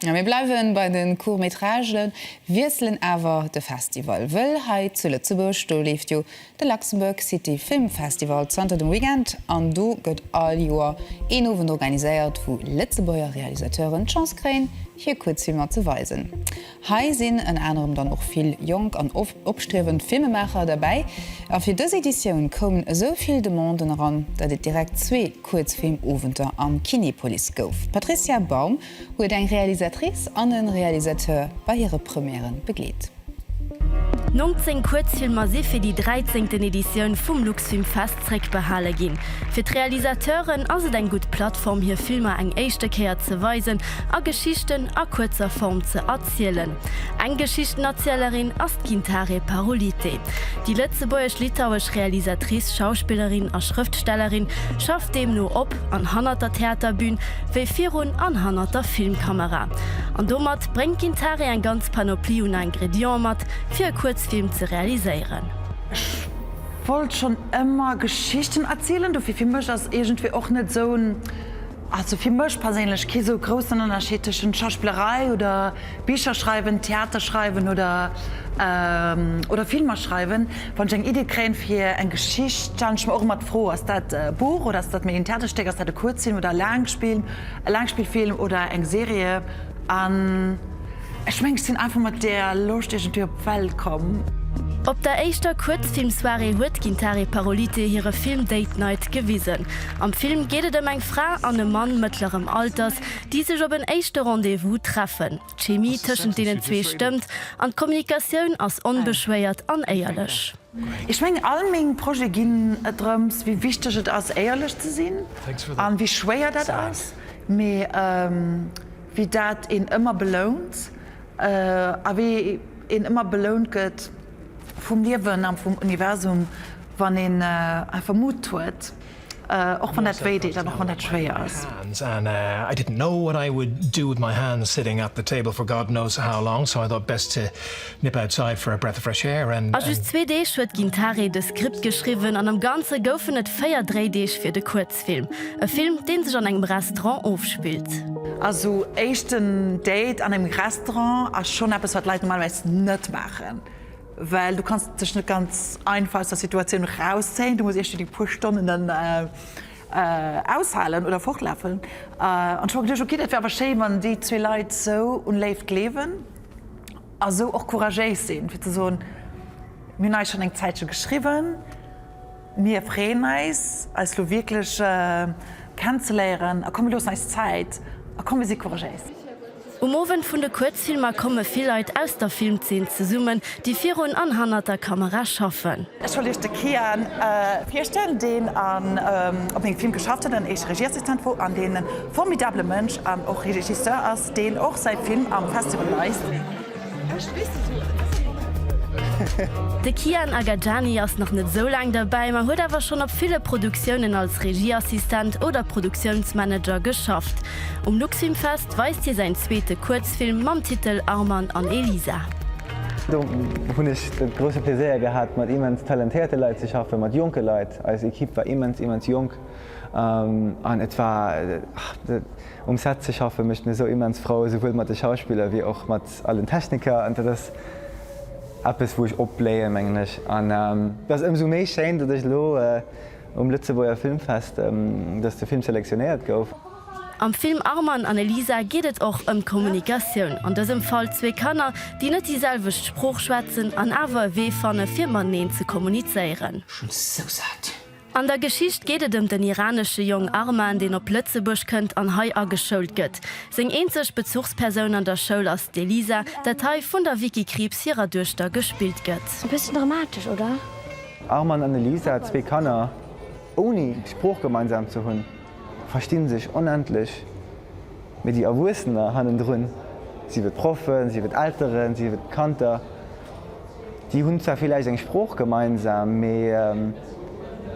Mir bleiwen bei de Court-métragen, wiesselen awer de Festival, wëll hei zu Lëtzebuerg, do leeft jo de Luxembourg City Film Festival zanter dem Weekend an do gëtt all Joer een Owend organiséiert, wou Lëtzebuerger Realisateuren d'Chance kréien, hir Kuerzfilmer ze weisen. Hei sinn ënner anerem dann och vill jonk an oft. Opstriewend Filmemaacher derbäi a fir dës Editioun koumen esou vill Demanden eran, datt et direkt zwee Kuerzfilmowenter am Kinepolis gouf. D'Patricia Baum huet eng Realisatrice an e Realisateur bei hire Premièren begleet. 19 Kuerzfilmer si fir déi dräizéngten Editioun vum Luxfilmfest zréckbehale ginn. Fir d'Realisateuren ass et eng gutt Plattform hir Filmer eng éischte Kéier ze weisen a Geschichten a kuerzer Form ze. zielen. Eng Geschichtenerzielerin ass d'Gintare Parulite. Déi lëtzebuergesch-litauesch Realisatrice, Schauspillerin a Schrëftstellerin schafft deemno op an hannert der Theaterbün, wéi virun an hannert der Filmkamera. An domat bréngt d'Gintare eng ganz Panoplie un Ingrédienten mat, fir e Kuerzfilm ze realiséieren. Ech wollt schonn ëmmer Geschichten erzielen, dofir fir mech ass iergendwéi och net esou en Also fir mech perséinlech kee sou groussen Ënnerscheed tëschent Schauspillerei oder Bicher schreiwen, Theater schreiwen oder oder Filmer schreiwen. Wann ech eng Iddi kréien fir eng Geschicht, stellen ech mer och ëmmer d'Fro, ass dat e Buch oder ass dat méi en Theaterstéck, ass dat e Kuerzfilm oder e Laangspill, e Laangspillfilm oder eng Serie an. Ech mengen ech sinn einfach mat deer Loscht iergendwéi op d'Welt komm. Op der éischter Kuerzfilmsoirée huet d'Gintare Parolite hire Film Date Night gewisen. Am Film geet et ëm eng Fra an e Mann mëttlerem Alters, déi sech op en éischte Rendez-vous treffen. D'Chemie tëschent deenen zwee stëmmt an d'Kommunikatioun ass onbeschwéiert an éierlech. Ech mengen all meng Projete ginn et drëms, wéi wichteg et ass éierlech ze sinn a wéi schwéier dat ass. Mee. wéi dat een ëmmer belount a wéi een ëmmer belount gëtt vum Liewen a vum Universum, wann een einfach Mut huet, och wann dat wéi deet an och wann dat schwéier ass. A just zwee Deeg huet d'Gintare dës Skript geschriwwen an am Ganze goufen et véier Dréideeg fir de Kuerzfilm. Testfilm, e Film deen sech an engem Restaurant ofspillt. Also éischten Date an engem Restaurant ass schonn eppes wat Leit normalerweis net maachen, well du kanns dech net ganz einfach aus der Situatioun rauszéien, du muss iech déi puer Stonnen dann aushalen oder fortlafen. An ech hu mer geduecht, ok dat wär awer schéi wann déi zwee Leit esou un Léift gleewen a sou och couragéis sinn fir ze soen, mir hunn eis schonn eng Zäitche geschriwwen. Mir freeën eis, eis lo wierklech kennenzeléieren a komm mir loossen eis Zäit a komm mir si couragéis. Um Owend vun de Kuerzfilmer komme vill Leit aus der Filmzeen zesummen, déi virun an hannert der Kamera schaffen. Ech wollt Iech de Kian virstellen, deen op mengem Film geschafft huet, an eische Regieassistent wor, an deen e formidabele Mënsch an och Regisseur ass, deen och säi Film am Festival weist. De Kian Agajani ass nach net esou laang derbäi, ma huet awer schonn op ville Produktiounen als Regieassistent oder Produktiounsmanager geschafft. Um Luxfilmfest weist hie säin zweete Kuerzfilm mam Titel Arman an Elisa. Do hunn ech de grousse Pleséier gehat, mat immens talentéierte Leit ze schaffen, mat jonke Leit. Eis Ekipp war immens, immens jonk an et war. Um Set ze schaffe mécht mir sou immens frou, souwuel mat de Schauspiller wéi och mat all den Techniker. An dat ass eppes, wou ech opbléien, mengen ech. An et ass ëmsou méi schéin, datt ech elo um Lëtzebuerger Filmfest, datt de Film selektionéiert gouf. Am Film Arman an Elisa geet et och ëm d'Kommunikatioun, an dësem Fall zwee Kanner, déi net déi selwecht Sprooch schwätzen an awer e Wee fanne fir mateneen ze kommunizéieren. Schon sou saat An der Geschicht geet et ëm den iranesche Jong Arman, deen op Lëtzebuerg kënnt an hei ageschoult gëtt. Seng eenzeg Bezuchspersoun an der Schoul ass d'Elisa, dat hei vun der Vicky Krieps hirer Duechter gespillt gëtt. E bëssen dramatesch, oder? Arman an Elisa, zwee Kanner ouni Sprooch gemeinsam ze hunn. versti sech onendlech, mee déi Erwuessener hannendrun, sief et Proffen, sief et Elteren, sief et Kanter, déi hunn zwar villäicht eng Sprooch gemeinsam, mee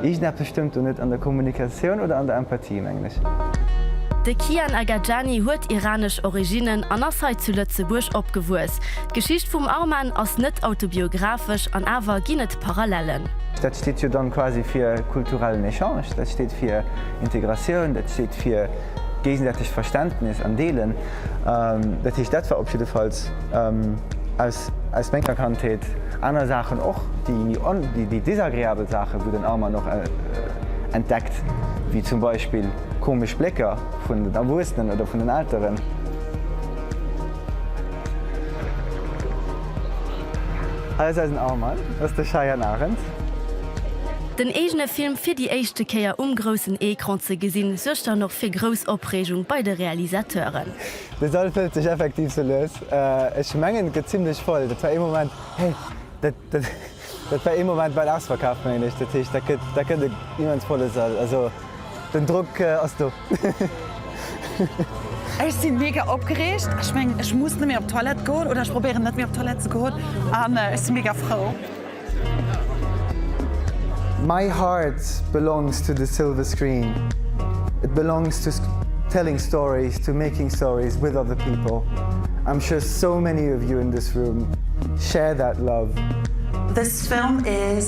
iergendeppes stëmmt do net an der Kommunikatioun oder an der Empathie, mengen ech. De Kian Agajani huet iranesch Originnen an ass hei zu Lëtzebuerg opgewuess. D'Geschicht vum Arman ass net autobiographesch an awer ginn et. Parallellen. Dat steet jo dann quasi fir kulturellen Echange, dat steet fir Integratioun, dat steet fir géigesäitegt Verständnis an Deelen. Dat heescht, dat war op jiddefalls aus menger Kandheet, aner Saachen och, déi desagreabel Saachen, wou den Arman och entdeckt, wéi zum Beispill komesch Blécker vun den Erwuessenen oder vun den Elteren. Hei ass eisen Armband, dat ass de Cheyenne Arendt. Den eegene Film fir déi éischte Kéier um groussen Ecran ze gesinn, suergt dann och fir grouss Opreegung bei de Realisateuren. De Sall fëllt sech effektiv sou lues. Ech mengen, et gëtt zimlech voll. Dat war ee Moment, hey, dat war ee Moment, war en ausverkaaft, mengen ech. Dat heescht, dat gëtt en immens volle Sall. Den Drock ass do. Ech sinn mega opgereegt. Ech mengen ech muss net méi op Toilette goen oder ech probéieren net méi op Toilette ze goen an ech sinn mega frou. My heart belongs to the silver screen, it belongs to telling stories, to making stories with other people, I'm sure so many of you in this room share that love. This film is